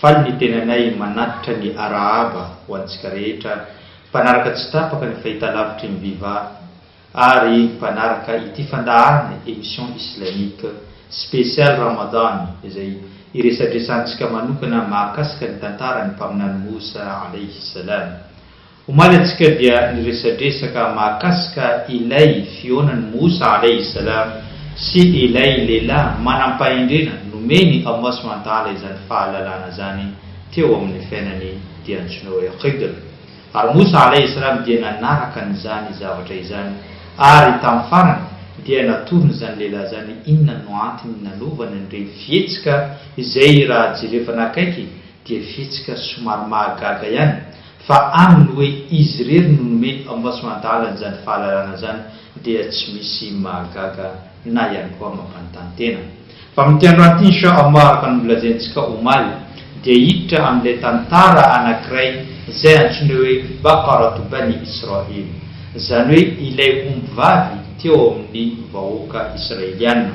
Faly ny tenanay manatitra ny arahaba ho antsika rehetra mpanaraka tsy tapaka ny fahitalavitry ny Viva ary mpanaraka ity fandaharana Emission Islamique Spéciale Ramadan izay iresadresantsika manokana mahakasika ny tantaran'ny Mpaminany Moussa Alayhi Salam. Omaly antsika dia niresadresaka mahakasika ilay fihaonan'i Moussa Alayhi Salam sy ilay lehilahy manam-pahendrena nomen'i Allah Subhanahu wa Ta'ala izany fahalalana izany teo amin'ny fiainany dia antsoina hoe Khidr. Ary Moussa Alayhi Salam dia nanaraka an'izany zavatra izany ary tamin'ny farany dia natorony izany lehilahy izany inona no antony nanovany an'ireny fihetsika izay raha jerevana akaiky dia fihetsika somary mahagaga ihany Fa aminy hoe izy irery no nomeny ao Vasoandahala an'izany fahalalana izany dia tsy misy mahagaga na ihany koa mampanontany tena. Fa amin'ity androany ity insha Allah araka ny nolazaintsika omaly dia hiditra amin'ilay tantara anankiray izay antsoina hoe Baqaratu Bani Israil, izany hoe ilay ombivavy teo amin'ny vahoaka Israeliana.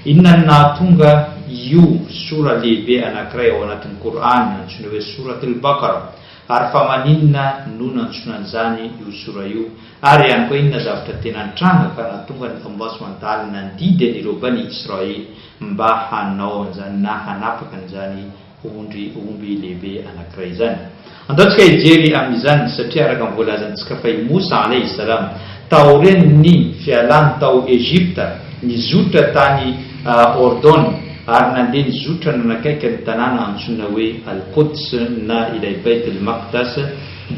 Inona no nahatonga io Sura lehibe anankiray ao anatin'ny Qur'an antsoina hoe Surat Al-Baqarah? Ary fa maninona no nantsoina an'izany io sora io? Ary ihany koa inona zavatra tena nitranga ka nahatonga ny Ombudsman dahalo nandidy an'ireo Bani Israely mba hanao an'izany na hanapaka an'izany ondry omby lehibe anankiray izany? Andaontsika hijery amin'izany, satria araka ny voalazantsika fa i Moussa, alayhi salam, Taorian' ny fialany tao Egypta, nizotra tany Ordon ary nandeha nizotra nanakaiky an' ny tanàna antsoina hoe Al-Quds na ilay Beit el-Maqdas,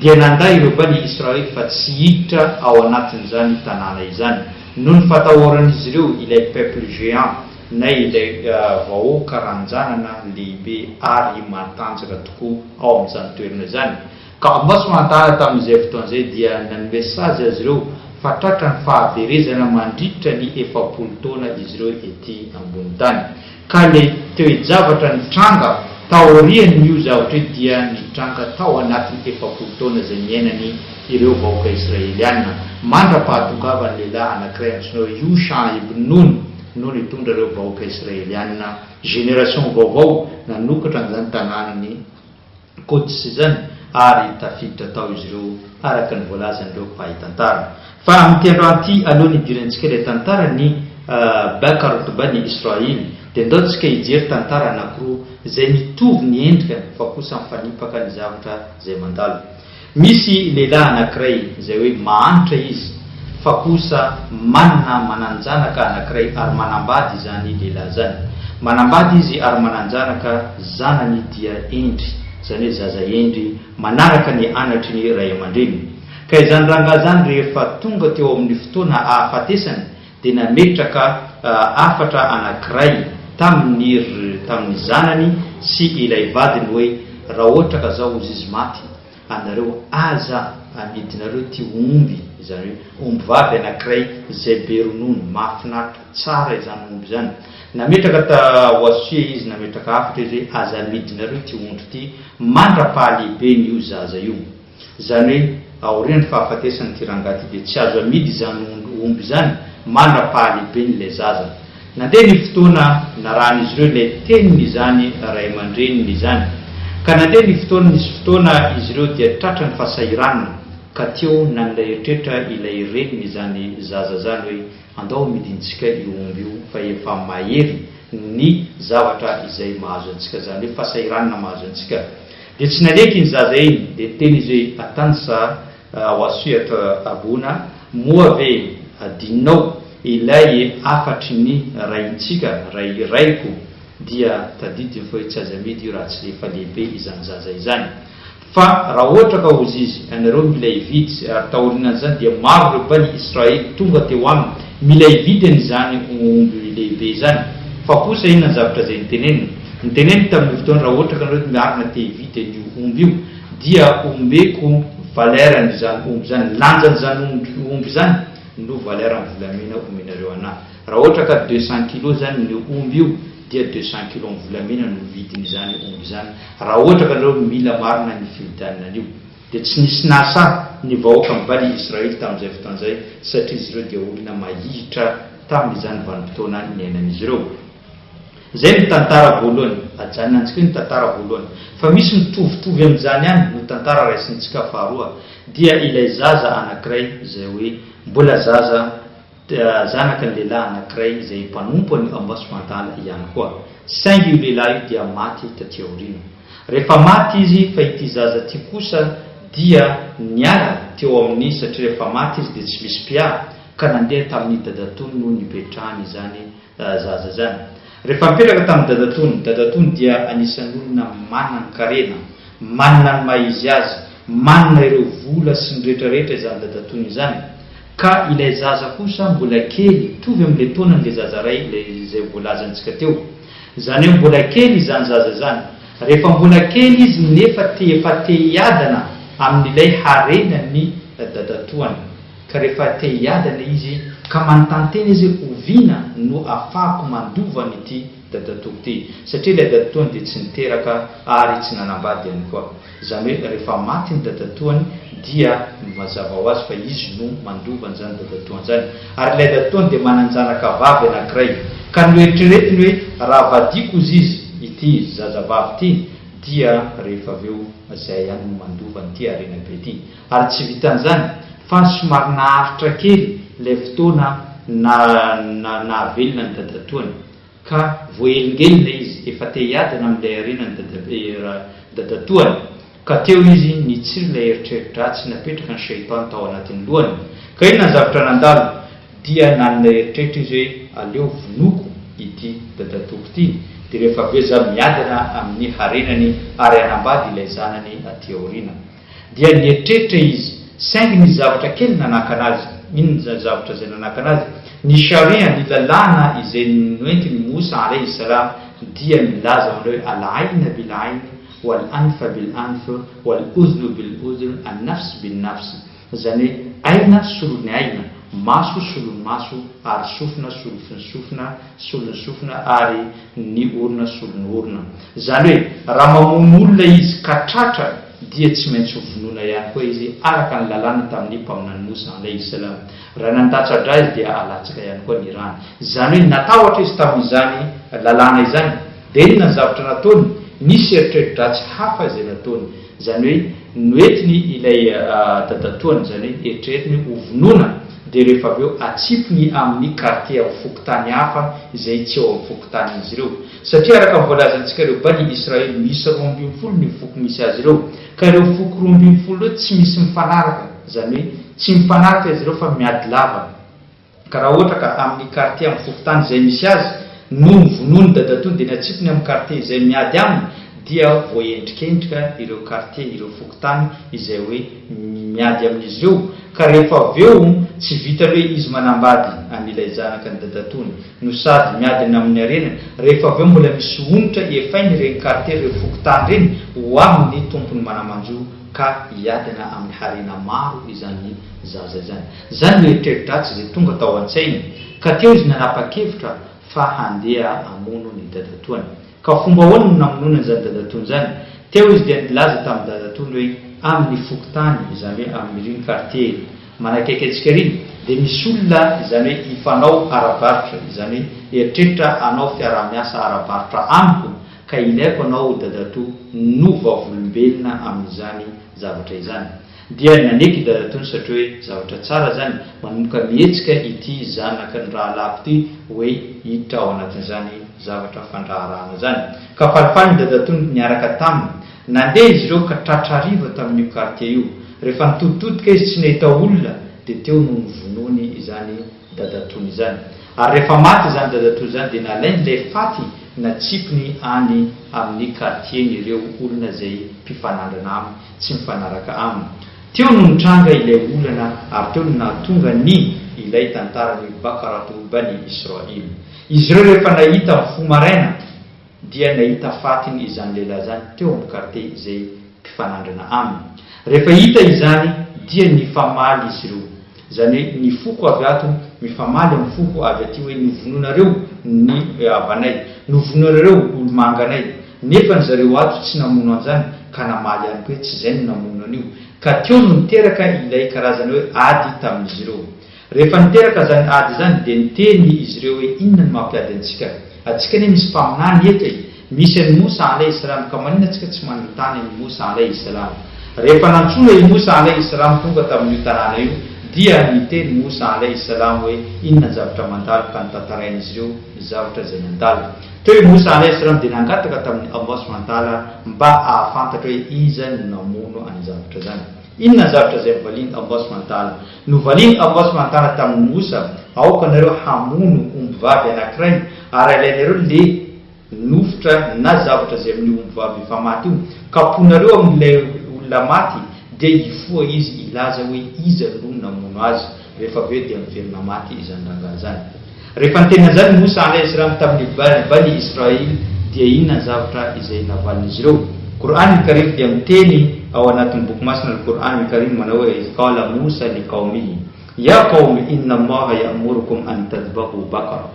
dia nanda ireo Bani Israël fa tsy hiditra ao anatin' izany tanàna izany, noho ny fatahoran' izy ireo ilay peuple géant na ilay vahoaka ranjanana lehibe ary matanjaka tokoa ao amin' izany toerana izany. Gamos Mantara tamin'izay fotoana izay dia nanome sazy azy ireo fa tratra ny fahaverezana mandritra ny efapolo taona izy ireo ety ambony tany. Ka ilay toe-javatra nitranga taorian'io zavatra io dia nitranga tao anatin'ny efapolo taona izay niainany ireo vahoaka Israeliana mandra-pahatongavan'ny lehilahy anankiray antsoina hoe Yosha ibn Nun no nitondra ireo vahoaka Israeliana, generation vaovao, nanokatra an'izany tanànan'i Quds izany, ary tafiditra tao izy ireo, araka ny voalazan'ireo mpahay tantara. Fa amin'ity androany ity, alohan'ny hidirantsika ilay tantaran'i Baka Rutuba an'i Israely, dia ndao tsika hijery tantara anankiroa izay mitovy ny endrika fa kosa mifanipaka ny zavatra izay mandalo. Misy lehilahy anankiray izay hoe mahantra izy fa kosa manana manan-janaka anankiray ary manambady izany lehilahy izany. Manambady izy ary manan-janaka zanany dia hendry, izany hoe zaza hendry manaraka ny anatry ny ray aman-dreniny. Ka izany rangahy izany rehefa tonga teo amin'ny fotoana ahafatesany dia nametraka hafatra anankiray tamin'ny ry tamin'ny zanany sy ilay vadiny hoe, Raha ohatra ka zao hozy izy maty, anareo aza amidinareo ty omby, izany hoe ombivavy anankiray izay be ronono, mahafinaritra, tsara izany omby izany. Nametraka ta Wasie izy, nametraka hafatra izy hoe, Aza amidinareo ty ondry ty mandra-pahalehiben'io zaza io. Izany hoe aorian'ny fahafatesan'ity rangahy ity dia tsy azo amidy izany omby izany mandra-pahalehiben' ilay zaza. Nandeha ny fotoana narahan'izy ireo ilay tenin'izany ray aman-dreniny izany. Ka nandeha ny fotoana nisy fotoana izy ireo dia tratra ny fahasahiranana ka teo nanilay eritreritra ilay renin' izany zaza izany hoe andao amidintsika io omby io fa efa mahery ny zavatra izay mahazo antsika izany hoe fahasahiranana mahazo antsika Dia tsy naneky iny zaza iny, dia niteny izy hoe, Atansa ao Assyatra Rabona, moa ve adinonao ilay hafatry ny raintsika, ray raiko? Dia tadidiny fa hoe tsy aza amidy io raha tsy efa lehibe izany zaza izany. Fa raha ohatra ka hozy izy, Ianareo mila hividy, ary taorianan'izany dia maro ireo Bani Israely tonga teo aminy, mila hividy an'izany omby lehibe izany. Fa kosa inona ny zavatra izay niteneniny? Noteneniko tamin'io fotoana raha ohatra ka nareo miarina te hivita an'io omby io dia omeko valeur an'izany omby izany, lanjan'izany omby izany no valeur ny volamena omenareo anah. Raha ohatra ka deux cent kilos izany ny omby io dia deux cent kilos ny volamena no vidin'izany omby izany raha ohatra ka nareo mila marina ny fividianana an'io. Dia tsy nisy nahasahy ny vahoaka ny Bani Israely tamin'izay fotoana izay satria izy ireo dia olona mahihitra tamin'izany vanim-potoana niainan'izy ireo. Izay no tantara voalohany. Ajanona antsika eo ny tantara voalohany. Fa misy mitovitovy amin'izany ihany no tantara raisintsika faharoa. Dia ilay zaza anankiray izay hoe mbola zaza, zanaka ny lehilahy anankiray izay mpanompo an'i Amboasivantala ihany koa. Saingy io lehilahy io dia maty taty aoriana. Rehefa maty izy fa ity zaza ity kosa dia niala teo amin'ny satria rehefa maty izy dia tsy misy mpiaro ka nandeha tamin'ny dadatoany no nipetrahany izany Zaza izany. Rehefa nipetraka tamin'ny dadatoany, dadatoany dia anisan'ny olona manan-karena, manana ny maha izy azy, manana ireo vola sy ny rehetra rehetra izany dadatoany izany, ka ilay zaza kosa mbola kely, mitovy amin'ilay taonan'ilay zaza iray ilay izay voalazantsika teo. Izany hoe mbola kely izany zaza izany. Rehefa mbola kely izy nefa te efa te hiadana amin'ilay harenan'ny dadatoany. Ka rehefa te hiady anie izy ka manontany tena izy hoe oviana no afahako mandova an'ity dadatoako ity? Satria ilay dadatoany dia tsy niteraka ary tsy nanambady ihany koa. Izany hoe rehefa maty ny dadatoany dia mazava ho azy fa izy no mandova an'izany dadatoany izany. Ary ilay dadatoany dia manan-janaka vavy anankiray. Ka noeritreretiny hoe raha vadiako hozy izy ity zazavavy ity dia rehefa avy eo izay ihany no mandova an'ity harena be ity. Ary tsy vitan'izany fa somary naharitra kely ilay fotoana nahavelona an'i dadatoany ka voahelingelina izy efa te hiadana amin'ilay harena ny dadatoany ka teo izy nitsiry ilay eritreri-dratsy napetraka ny Shaitan tao anatin'ny lohany ka inona ny zavatra nandalo dia nanana eritreritra izy hoe aleo vonoiko ity dadatoako ity dia rehefa avy eo za miadana amin'ny harenany ary hanambady ilay zanany aty aoriana. Dia nieritreritra izy, saingy nisy zavatra kely nanakana azy. Inona izany zavatra izay nanakana azy? Ny Sharia, ny lalàna izay noentin'i Moussa alayhi salam, dia milaza ao amin'ilay hoe, Al-'ayna bil-'ayn, wal-'anfa bil-'anf, wal-'udhnu bil-'udhn, an-nafs bin-nafs. Izany hoe, Aina, solon'ny aina, maso, solon'ny maso, ary sofina, solofin'ny sofina. solon'ny sofina ary ny orona solon'ny orona. Izany hoe raha mamono olona izy ka tratra dia tsy maintsy ho vonoina ihany koa izy araka ny lalàna tamin'ny mpaminany Mosa, Alaihi Islam. Raha nandatsa-dra izy dia alatsaka ihany koa ny rany. Izany hoe natahotra izy tamin'izany lalàna izany. Dia inona ny zavatra nataony? Nisy eritreri-dratsy hafa izay nataony. Izany hoe noentiny ilay dadatoany, izany hoe eritreretiny hoe ho vonoina, dia rehefa avy eo atsipiny amin'ny kartie amin'ny fokontany hafa izay tsy eo amin'ny fokontanin'izy ireo. Satria araka ny voalazantsika ireo Bani Israely miisa roa ambin'ny folo no foko misy azy ireo, ka ireo foko roa ambin'ny folo ireo tsy misy mifanaraka, izany hoe tsy mifanaraka izy ireo fa miady lava. Ka raha ohatra ka amin'ny kartie amin'ny fokontany izay misy azy no novonoin'ny dadatoany dia ny atsipiny amin'ny kartie izay miady aminy dia voaendrikendrika ireo kartie, ireo fokontany izay hoe miady amin'izy ireo ka rehefa avy eo tsy vitan'ny hoe izy manambady an'ilay janaka ny dadatoany no sady miady ny amin'ny harenany rehefa avy eo mbola misy onitra efainy ireny kartie ireny fokontany ireny ho amin'ny tompony manamanjo ka hiadana amin'ny harena maro izany zaza izany. Izany no eritreri-dratsy izay tonga tao an-tsainy, ka teo izy nanapa-kevitra fa handeha hamono ny dadatoany. Ka fomba ahoana no namonoany an'izany dadatoany izany? Teo izy dia nilaza tamin'ny dadatoany hoe, Amin'ny fokontany, izany hoe amin'iriny kartie manakaiky antsika iriny, dia misy olona, izany hoe hifanao ara-barotra, izany hoe eritreritra hanao fiaraha-miasa ara-barotra amiko, ka ilaiko anao ho dadatoa no vavolombelona amin'izany zavatra izany. Dia naneky i Dadatony satria hoe zavatra tsara izany, manomboka mihetsika ity zanaky ny rahalahiko ity hoe hiditra ao anatin'izany zavatra fandraharahana izany. Ka falifaly ny Dadatony niaraka taminy. Nandeha izy ireo ka tratra hariva tamin'io kartie io. Rehefa nitoditodika izy tsy nahita olona dia teo no novonoiny izany Dadatony izany. Ary rehefa maty izany Dadatony izany dia nalain'ilay faty natsipiny any amin'ny kartieny ireo olona izay mpifanandrana aminy. tsy mifanaraka aminy. Teo no nitranga ilay olana ary teo no nahatonga ny ilay tantaran'i Baqaratu Bani Israil. Izy ireo rehefa nahita ny fo maraina dia nahita fatin' izany lehilahy izany teo amin'ny kartie izay mpifanandrana aminy. Rehefa hita izany dia nifamaly izy ireo. Izany hoe ny foko avy ato mifamaly amin'ny foko avy aty hoe novonoinareo ny havanay, novonoinareo olomanganay, nefa ny zareo ato tsy namono an'izany ka namaly ihany koa hoe tsy izay no namono an'io, ka teo no niteraka ilay karazana hoe ady tamin'izy ireo. Rehefa niteraka izany ady izany dia niteny izy ireo hoe inona no mampiady antsika? Antsika anie misy mpaminany eto e! Misy an'i Moussa alaih salam ka manina tsika tsy manontany an'i Moussa alaih salam? Rehefa nantsoina i Moussa alaih salam tonga tamin'io tanàna io dia niteny Moussa alaih salam hoe inona ny zavatra mandalo ka notantarain'izy ireo ny zavatra izay nandalo. Teo i Moussa alaih salam dia nangataka tamin'i Allah subhanahu wa ta'ala mba ahafantatra hoe iza no namono an'izany zavatra izany. Inona ny zavatra izay novalian'i Allah subhanahu wa ta'ala? Novalian'i Allah subhanahu wa ta'ala tamin'i Moussa, aoka nareo hamono ombivavy anankiray ary alainareo le nofotra na zavatra izay amin'io ombivavy efa maty io, kapohinareo amin'ilay olona maty dia hifoha izy hilaza hoe iza no namono azy, rehefa avy eo dia miverina maty izany rangahy izany. Rehefa niteny an'izany Mosa andry Isram tamin'ny Bani Israil dia inona ny zavatra izay navalin'izy ireo? Qur'an ny Karim dia miteny ao anatin'ny boky masina Al Qur'an ny Karim manao hoe Idh qala Mosa li qawmihi, Ya qawmi inna Allaha ya'murukum an tadhbahu baqara,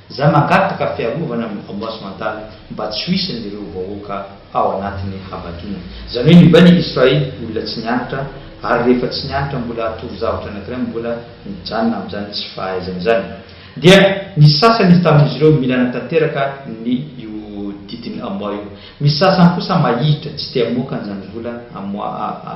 Za mangataka fiarovana amin'ny vengeance mentale mba tsy ho isany ireo vahoaka ao anatiny habadoana. Zany hoe mibaina i Israel olona tsy nianatra ary rehefa tsy nianatra mbola atoro zavatra anakiray mbola mijanona amin'izany tsy fahaizana izany. Dia ny sasany tamin'izy ireo mila hanatanteraka ny io didin'ny amoa io. Misy sasany kosa mahihitra tsy te hamoaka an'izany vola amoa a.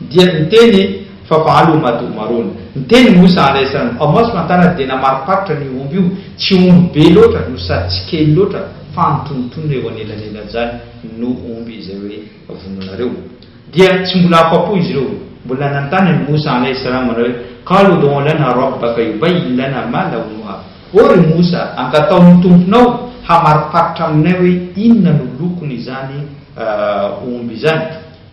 Dia niteny fa valo ho madio maroana. Ny teny moa sahala isa no ao maso Mantanana dia namariparitra an'io omby io, tsy omby be loatra no sady tsy kely loatra fa antonontonona eo anelanelan'izany no omby izay hoe vonoinareo. Dia tsy mbola afa-po izy ireo, mbola nanontany an'i Moussa alaih salam manao hoe, Qalu udu'u lana rabbaka yubayyin lana ma lawnuha, Ô ry Moussa, angataho ny Tomponao hamariparitra aminay hoe inona no lokon'izany omby izany.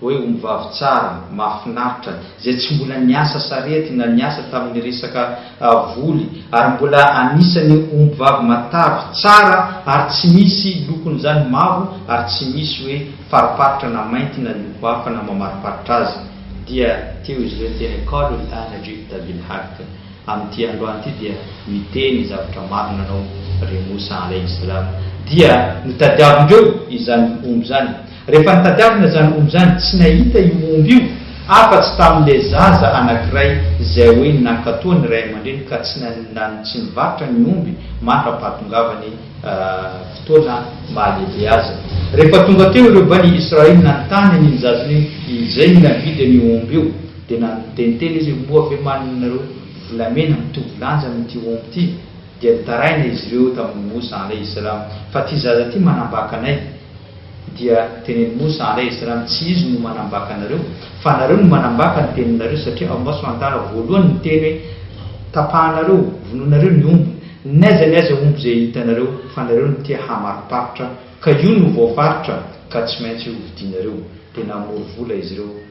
Hoe ombivavy tsara, mahafinaritra, izay tsy mbola niasa sarety na niasa tamin'ny resaka voly, ary mbola anisan'ny ombivavy matavy, tsara ary tsy misy lokon'izany mavo ary tsy misy hoe fariparitra na mainty na loko hafa na mamariparitra azy, dia teo izy ireo teny Qaalul aana ji'ta bil haqq, amin'ity androany ity dia miteny zavatra marina ianao ry Moussa alayhi salam, dia notadiavin-dreo izany omby izany. Rehefa nitadiavina izany omby izany, tsy nahita io omby io afa-tsy tamin'ilay zaza anankiray izay hoe nankatoa ny ray aman-dreny ka tsy nanindany tsy nivarotra ny omby mandra-pahatongavany fotoana mahalehibe azy. Rehefa tonga teo ireo bani Israil nanontany an'iny zaza iny izay ny navidy an'io omby io, dia nanonteniteny izy, Moa ve manana ianareo volamena mitovy lanja amin'ity omby ity? Dia nitaraina izy ireo tamin'i Moussa, alaih salam, fa ity zaza ity manambaka anay. Dia tenen'i Mosa, Ary aiza raha ny tsy izy no manambaka anareo? Fa anareo no manambaka ny teninareo, satria ao Maso Antara voalohany ny teny hoe, Tapahanareo, vonoinareo ny omby, n'aiza ny aiza omby izay hitanareo, fa nareo no tia hamariparitra, ka io no voafaritra, ka tsy maintsy hovidianareo. Dia namory vola izy ireo.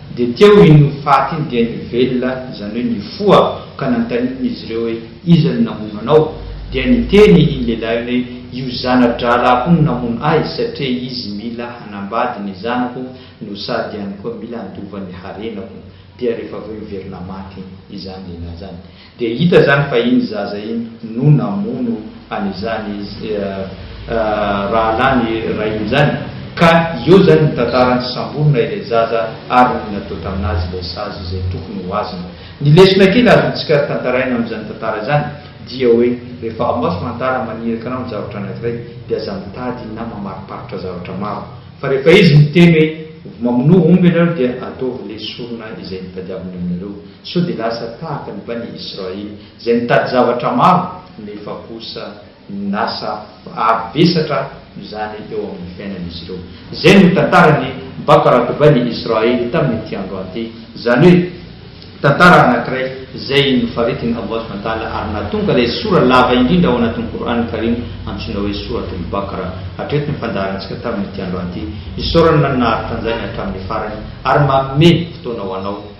Dia teo iny ho faty iny dia nivelona, izany hoe nifoha, ka nanontaniana izy ireo hoe, Iza no namono anao? Dia niteny iny lehilahy iny hoe, Io zana-drahalahiko io no namono ahy, satria izy mila hanambady ny zanako no sady ihany koa mila handova ny harenako. Dia rehefa avy eo niverina maty izany lehilahy izany. Dia hita izany fa iny zaza iny no namono an'izany rahalahy ny rainy izany, ka eo izany ny tantarany, samborina ilay zaza ary ny natao tamin'azy ilay sazy izay tokony ho azony. Ny lesona kely azontsika tantaraina amin'izany tantara izany dia hoe rehefa hamaso tantara maniraka anao ny zavatra anankiray dia aza mitady na mamariparitra zavatra maro fa rehefa izy miteny hoe mamonoa omby ianareo dia ataovy ilay sorona izay nitadiaviny aminareo Sao dia lasa tahaka ny Bani Israil izay nitady zavatra maro nefa kosa lasa avo vesatra izany eo amin'ny fiainan'izy ireo. Izay no tantaran'ny Baqarat Bani Israil tamin'ity andro ahy ity, izany hoe tantara anankiray izay nofaritin' Allah subhanahu wa ta'ala ary nahatonga ilay sora lava indrindra ao anatin'ny Qour'an Karim antsoina hoe Surat al-Baqara. Hatreto ny fandaharantsika tamin'ity andro ahy ity. Isaorana ny nahary tanjaina hatramin'ny farany ary manome fotoana ho anao.